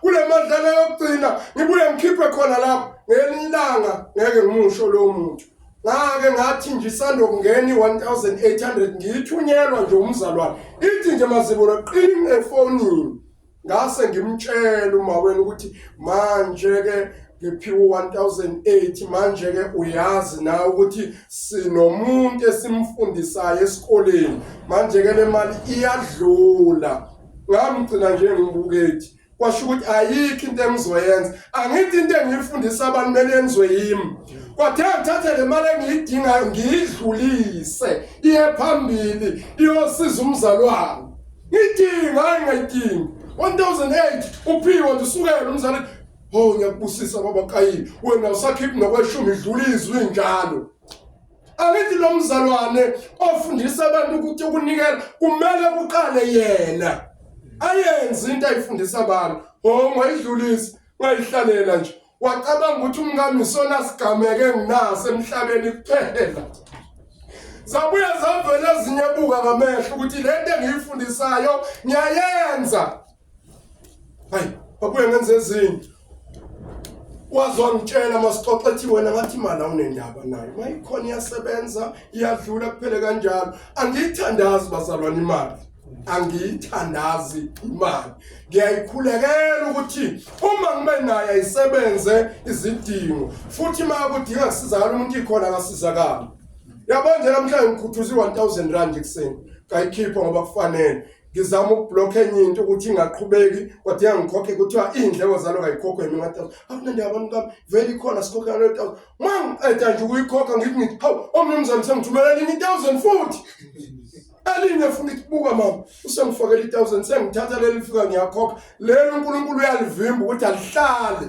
kule madlana yokugcina ngibuye ngikhiphe khona lapho ngelinye ilanga ngeke ngimusho lowo muntu ngake ngathi nje isandokungena i-1800 ngiyithunyelwa nje umzalwane ithi nje mazibulo qini efonini ngase ngimtshela uma wena ukuthi manje-ke ngiphiwe 1008 manje ke uyazi na ukuthi sinomuntu esimfundisayo esikoleni manje ke lemali iyadlula ngamgcina nje ngimbukethi kwasho ukuthi ayikho into engizoyenza angithi into engiyifundisa abantu kumele yenziwe yimi kwathe ngithathe le mali engiyidingayo ngiyidlulise iye phambili iyosiza umzali wami ngidinga hayi ngayidingi 1008 uphiwe nje usukele umzali ho ngiyakubusisa baba kayini wena usakhiphi nokweshumi idlula izwi njalo angithi lo mzalwane ofundisa abantu ukuthi ukunikela kumele kuqale yena ayenze into ayifundisa abantu ho ngayidlulisi ngayihlalela nje wacabanga ukuthi umkami isona sigameke nginaso emhlabeni kuphela zabuya zavela ezinye buka ngamehlo ukuthi lento engiyifundisayo ngiyayenza hayi babuye ngenze ezinye wazwangitshela masixoxa ethi wena ngathi imali awunendaba nayo uma ikhona iyasebenza iyadlula kuphele kanjalo angiyithandazi bazalwane imali angiyithandazi imali ngiyayikhulekela ukuthi uma ngibe naye ayisebenze izidingo futhi uma kudinga kusizakala umuntu ikhona akasizakali yabanje namhlanje ngikhuthuza i-one thousand rand ekuseni ngayikhipha ngoba kufanele ngizama ukubhlokha enye into ukuthi ingaqhubeki kodwa iyangikhokhe kuthiwa iy'ndleko zalo kayikhokho yimina thousand akunandi abantu kami vele ikhona sikhokhe yalo thousand ma ngiqeda nje ukuyikhokha ngithi ngithi hawu omnumzane sengithumela elinye i-thousand futhi elinye funa ithi buka mama usengifakela i-thousand sengithatha leli fika ngiyakhokha lelo uNkulunkulu uyalivimba ukuthi alihlale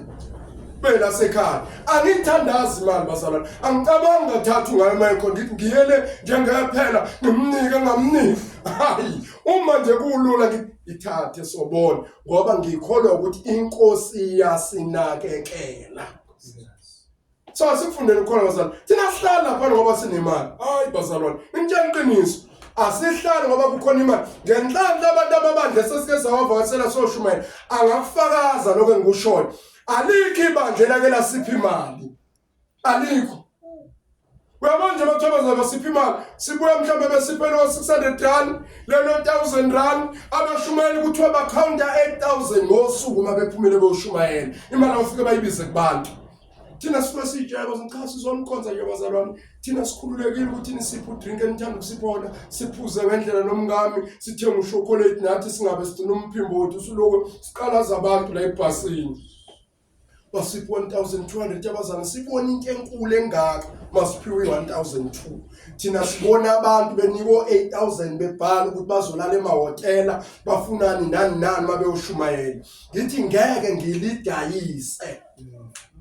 phela sekhaya angithandazi imali bazalwane angicabangi ngathatha ngayo mayekho ngithi ngiyele njengephela ngimnike ngamniki hayi uma nje kulula ngithathe sobona ngoba ngikholwa ukuthi inkosi iyasinakekela So asikufundele ukhona bazalwane. Thina sihlala lapha ngoba sinemali. Hayi bazalwane, ngitshela iqiniso. Asihlali ngoba kukhona imali. Ngenhlanhla abantu ababandla sesike sawavakasela soshumayela. Angakufakaza lokho engikushoyo. Alikho ibandla elake lasipha imali. Alikho. Uyabona nje abathokoza basipha imali sibuya mhlawumbe besiphele o-600 rand lelo 1000 rand abashumayeli kuthiwa bakhawunta 8000 ngosuku uma bephumele beyoshumayela imali awufike bayibize kubantu thina sifuna siyijayeko ngixhasa izomkhonza nje bazalwane thina sikhululekile ukuthi nisiphe udrink enithanda ukusibona siphuze ngendlela nomngami sithenge ushokolate nathi singabe sigcina umphimbo wethu usuloko siqalaza abantu la ebhasini basiphi 1200 abazana sibona into enkulu engaka masiphiwe 1002 thina sibona abantu beniko 8000 bebhala ukuthi bazolala emahotela bafunani nani nani mabeyoshumayela ngithi ngeke ngilidayise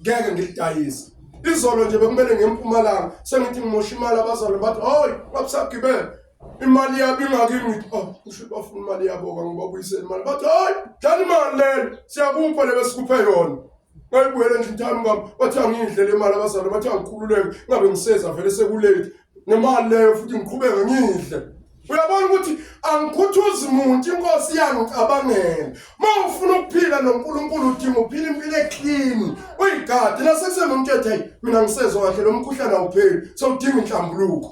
ngeke ngilidayise izolo nje bekumele ngempumalanga sengithi ngimosha imali abazalwane bathi hayi babusagibele imali yabo ingakimi ngithi oh usho bafuna imali yaboka ngibabuyisele imali bathi hayi dlala imali lelo siyakupha le besikuphe yona ngayibuyela endlini thami ngam bathi angiyidlele imali abazalwane bathi angikhululeke ngabe ngiseza vele sekulate nemali leyo futhi ngiqhubeke ngiyidle uyabona ukuthi angikhuthuzi muntu inkosi iyangicabangela uma ufuna ukuphila nonkulunkulu udinga uphila impilo eclean uyigadi nasekusenomuntu ethi hayi mina ngisezwa kahle lo mkhuhlane awupheli sewudinga inhlambuluko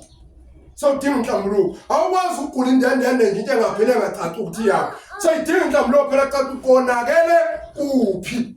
sewudinga inhlambuluko awukwazi ukugula indendende nje into engapheli engacaci ukuthi yakho seyidinga inhlambuluko phela caca ukonakele kuphi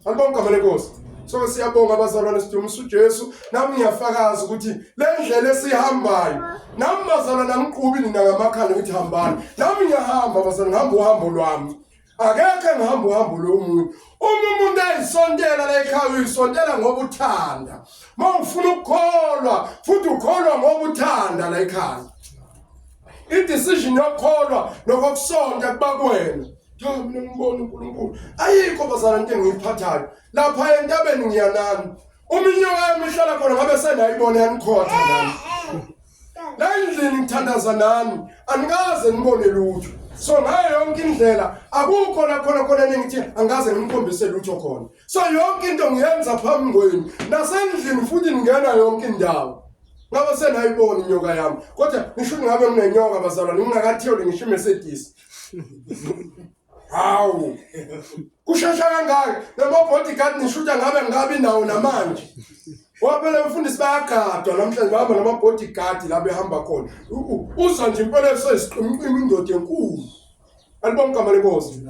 Angibonga igama lenkosi. So siyabonga abazalwane sidumisa uJesu. Nami ngiyafakaza ukuthi le ndlela esihambayo nami bazalwane angiqubi nina ngamakhanda ukuthi hambani. Nami ngiyahamba bazalwane ngihamba uhambo lwami. Akekho engihamba uhambo lomuntu. Uma umuntu ayisontela la ekhaya uyisontela ngoba uthanda. Uma ufuna ukukholwa futhi ukholwa ngoba uthanda la ekhaya. I decision yokukholwa nokusonta kuba kuwena. cha mina ngibona uNkulunkulu ayikho bazana into engiyiphathayo lapha entabeni ngiyanani uminyoka yami ihlala khona ngabe senayibona yanikhotha nami la endlini ngithandaza nani anikaze nibone lutho so ngayo yonke indlela akukho la khona khona nengithi angaze ngimkhombise lutho khona so yonke into ngiyenza phambi kwenu nasendlini futhi ngingena yonke indawo ngabe senayibona inyoka yami kodwa ngisho ngabe nginenyoka bazalwane ngingakathiyoli ngisho imercedes Hawu. Kushesha kangaka lama bodyguard nishuta ngabe ngabi nawo namanje. Waphela mfundisi bayagadwa namhlanje bahamba nama bodyguard la behamba khona. Uza nje impela esesiqimqima indoda enkulu. Alibonke amale Nkosi.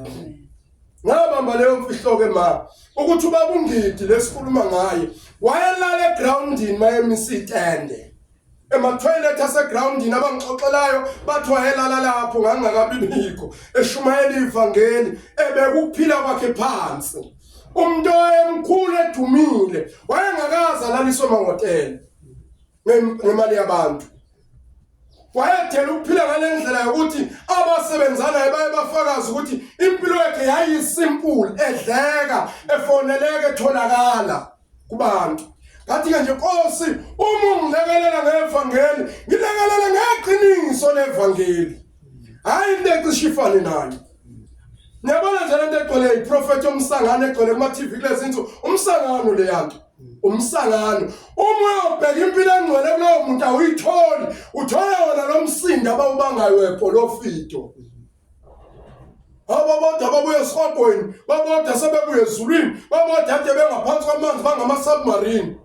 Ngabamba leyo mfihlo ke ma ukuthi ubaba ungidi lesikhuluma ngaye wayelala egroundini mayemisa itende. emathoyilethi asegrawundini abangixoxelayo bathi wayelala lapho ngangingakabi bikho eshumayela ivangeli ebekuphila kwakhe phansi umuntu owayemkhulu edumile wayengakaze alaliswe emahhotela ngemali yabantu wayethela ukuphila ngale ndlela yokuthi abasebenzanayo baye bafakazi ukuthi impilo yakhe yayisimpulu edleka efoneleke etholakala kubantu ngathi-ke nje nkosi uma ungilekelela ngevangeli ngilekelele ngeqiniso levangeli hhayi into ecishe ifane nayo niyabona nje le nto egcwele yiprofethi omsangano egcwele kuma-tv kulezi nsuku umsangano le yanto umsangano uma uyobheka impilo engcwele kulowo muntu awuyitholi uthole wona lo msindo abawubangayo webholofito ababodwa babuye esihogweni babodwa sebebuye ezulwini babodwa ade bengaphansi kwamanzi bangama-submarine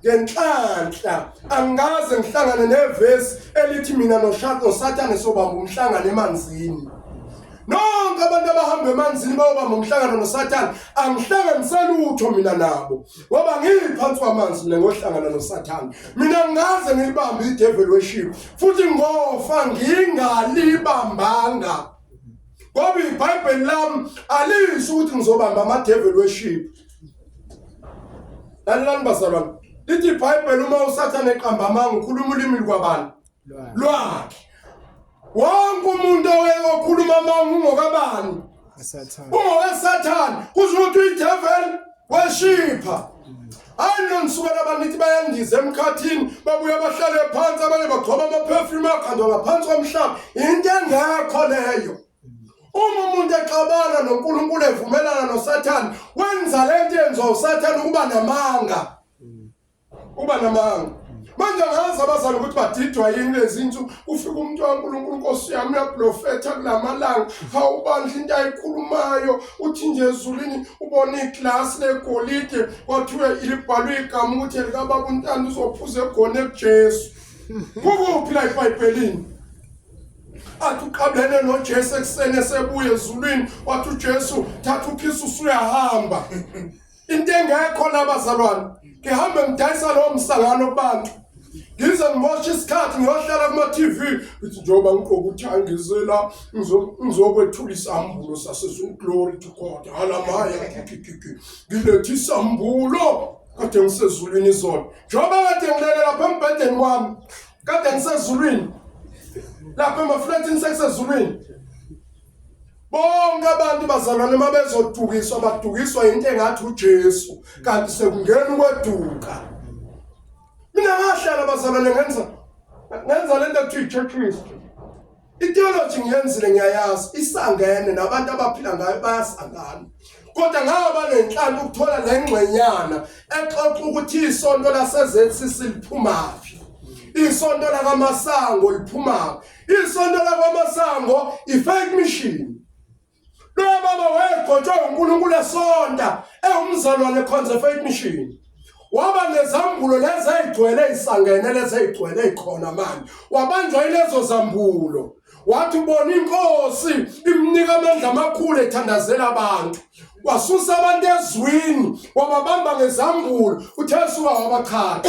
ngenhlanhla angikaze ngihlangane nevesi elithi mina nosathane sobamba umhlangano emanzini nonke abantu abahamba emanzini bayobamba umhlangano nosathane angihlanganiseli utho mina nabo Ngoba ngiphansi kwamanzi mina ngohlangana noSathane. Mina ngaze ngilibambe idevil worship futhi ngofa ngingalibambanga. Ngoba iBhayibheli lami alisho ukuthi ngizobamba amadevil worship. Lalelani bazalwane. Lithi iBhayibheli uma uSathane eqamba amanga ukhuluma ulimi lwabani? lwakhe wonke umuntu oweyokhuluma amanga ungokabani ungokasathane kusho ukuthi uyidevel weshipha ayino nisukela abanithi bayandiza emkhathini babuya bahlale phansi abanye bagcoba amaphefyume akhandwa ngaphansi komhlaba yinto engekho leyo uma umuntu exabana nonkulunkulu evumelana nosathane wenza le nto yenziwa usathane ukuba namanga uba namanga manje angazi abazali ukuthi badidwa yini lezi nsuku ufika umuntu wankulunkulu nkosi yami uyablofetha kula malanga hawu bandla into ayikhulumayo uthi nje ezulwini ubona iglasi legolide kwathiwe libhalwe igama ukuthi elikababa untanda uzophuza egona ekujesu kukuphi la ibhayibhelini athi uqabelene nojesu ekuseni esebuye ezulwini wathi ujesu thatha ukhisi usuyahamba into engekho la bazalwane ngihambe ngidayisa lowo msangano kubantu ngize ngimoshe isikhathi ngiyohlala kuma-tv ngithi njengoba ngigqoka ukuthi angizela ngizokwethula isambulo sasezulu glory to god halamaya kikikiki ngilethe isambulo kade ngisezulwini izona njengoba kade ngilele lapha embhedeni wami kade ngisezulwini lapha emaflatini sekusezulwini Bonke abantu bazalwane uma bezodukiswa badukiswa yinto engathi uJesu kanti sekungena ukweduka. Mina ngahlala bazalwane ngenza ngenza lento ekuthiwa iChurch History. Itheology ngiyenzile ngiyayazi isangene nabantu abaphila ngayo bayasangana. Kodwa ngaba nenhlanhla ukuthola le ngxenyana exoxa ukuthi isonto laseZCC liphumaphi. Isonto lakaMasango liphumaphi. Isonto lakwamasango i-fake mission loya baba wayegotshwa uNkulunkulu esonta ewumzalwane ekhonza faith mission waba nezambulo lezi ayigcwele isangene lezi ayigcwele ikhona manje wabanjwa ilezo zambulo wathi ubona inkosi imnika amandla amakhulu ethandazela abantu wasusa abantu ezwini wababamba ngezambulo uthesuka wabachaka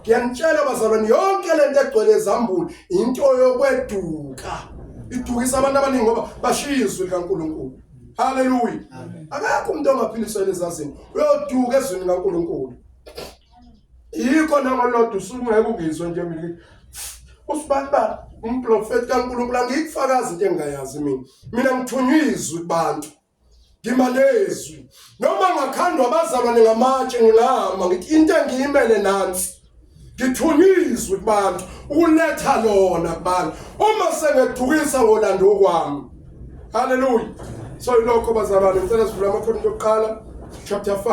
ngiyanitshela bazalwane yonke lento egcwele ezambulu into yokweduka idukisa abantu abaningi ngoba bashiya izwi likaNkulunkulu haleluya akakho umuntu ongaphiliswa elezazini uyoduka ezwini likaNkulunkulu yikho nangolodwa usungeke ungizwe nje mina usibani ba umprofeti kaNkulunkulu angikufakazi into engingayazi mina mina ngithunywa izwi kubantu ngimalezwi noma ngakhandwa abazalwane ngamatshe ngingahamba ngithi into engiyimele nansi ngithunyizwe kubantu ukuletha lona kubantu uma sengedukisa ngolando kwami haleluya so ilokho bazalwane ngicela sivule amakhona okuqala chapter 5